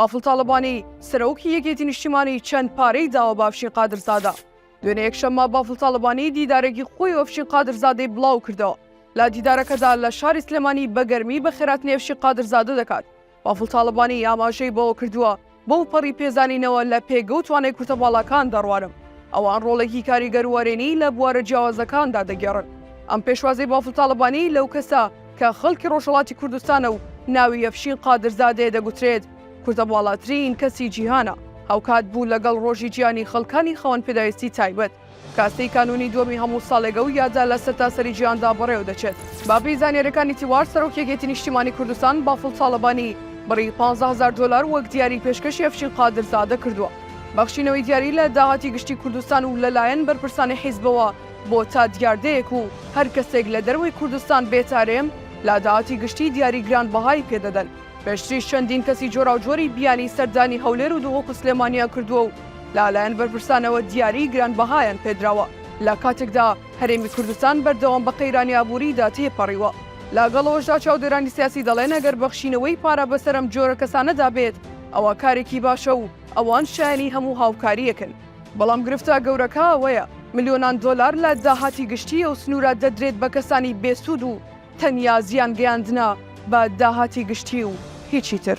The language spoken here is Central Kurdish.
بافڵ تاڵەبانی، سەرۆکی یەکێتی نیشتیمانی چەند پارەی داوە بە ئەفشین قادرزادە؟ دوێنێ یەکشەممە بافڵ تاڵەبانی دیدارێکی خۆی و ئەفشین قادرزادەی بڵاو کردەوە، لە دیدارەکەدا لە شاری سلێمانی بە گەرمی بە خێراتنی ئەفشین قادرزادە دەکات، بافڵ تاڵەبانی ئاماژەی بەوە کردووە، بەو پەڕی پێزانینەوە لە پێگە و توانای کورتە باڵاکان دەڕوانم، ئەوان ڕۆڵێکی کاریگەر و وەرێنی لە بوارە جیاوازەکاندا دەگێڕن، ئەم پێشوازەی بافڵ تاڵەبانی لەو کەسە، کە خەڵکی ڕۆژهەڵاتی کوردستانە و ناوی ئەفشین قادرزادەیە دەگوترێت کوردەباڵاترین کەسی جیهانە، هاوکات بوو لەگەڵ ڕۆژی جیهانی خەڵکانی خاوەن پێداویستی تایبەت، کە سێی کانوونی دووەمی هەموو ساڵێکە و یادە لە سەرتاسەری جیهاندا بەڕێوەدەچێت. بەپێی زانیارییەکانی تیوار، سەرۆکی یەکێتی نیشتیمانی کوردستان بافڵ تاڵەبانی بڕی پازدە هەزار دۆلار وەک دیاری پێشکەشی ئەفشین قادرزادە کردووە. بەخشینەوەی دیاری لە داهاتی گشتی کوردستان و لەلایەن بەرپرسانی حیزبەوە بۆ تا دیاردەیەک و هەر کەسێک لە دەرەوەی کوردستان بێتە رێم، لە داهاتی گشتی دیاری گرانبەهایی پێ دەدەن. پێشتریش چەندین کەسی جۆراوجۆری بیانی سەردانی هەولێر و دهۆک و سلێمانییان کردووە و لەلایەن بەرپرسانەوە دیاریی گرانبەهایان پێ دراوە، لە کاتێکدا هەرێمی کوردستان بەردەوام بە قەیرانی ئابووریدا تێپەڕیوە. لەگەڵ ئەوەشدا چاودێرانی سیاسی دەڵێن ئەگەر بەخشینەوەی پارە بەسەر ئەم جۆرە کەسانەدا بێت، ئەوا کارێکی باشە و ئەوان شایەنی هەموو هاوکارییەکن. بەڵام گرفتە گەورەکە ئەوەیە ملیۆنان دۆلار لە داهاتی گشتی ئەو سنوورە دەدرێت بە کەسانی بێسوود و تەنیا زیان گەیاندنە بە داهاتی گشتی و هیچی تر.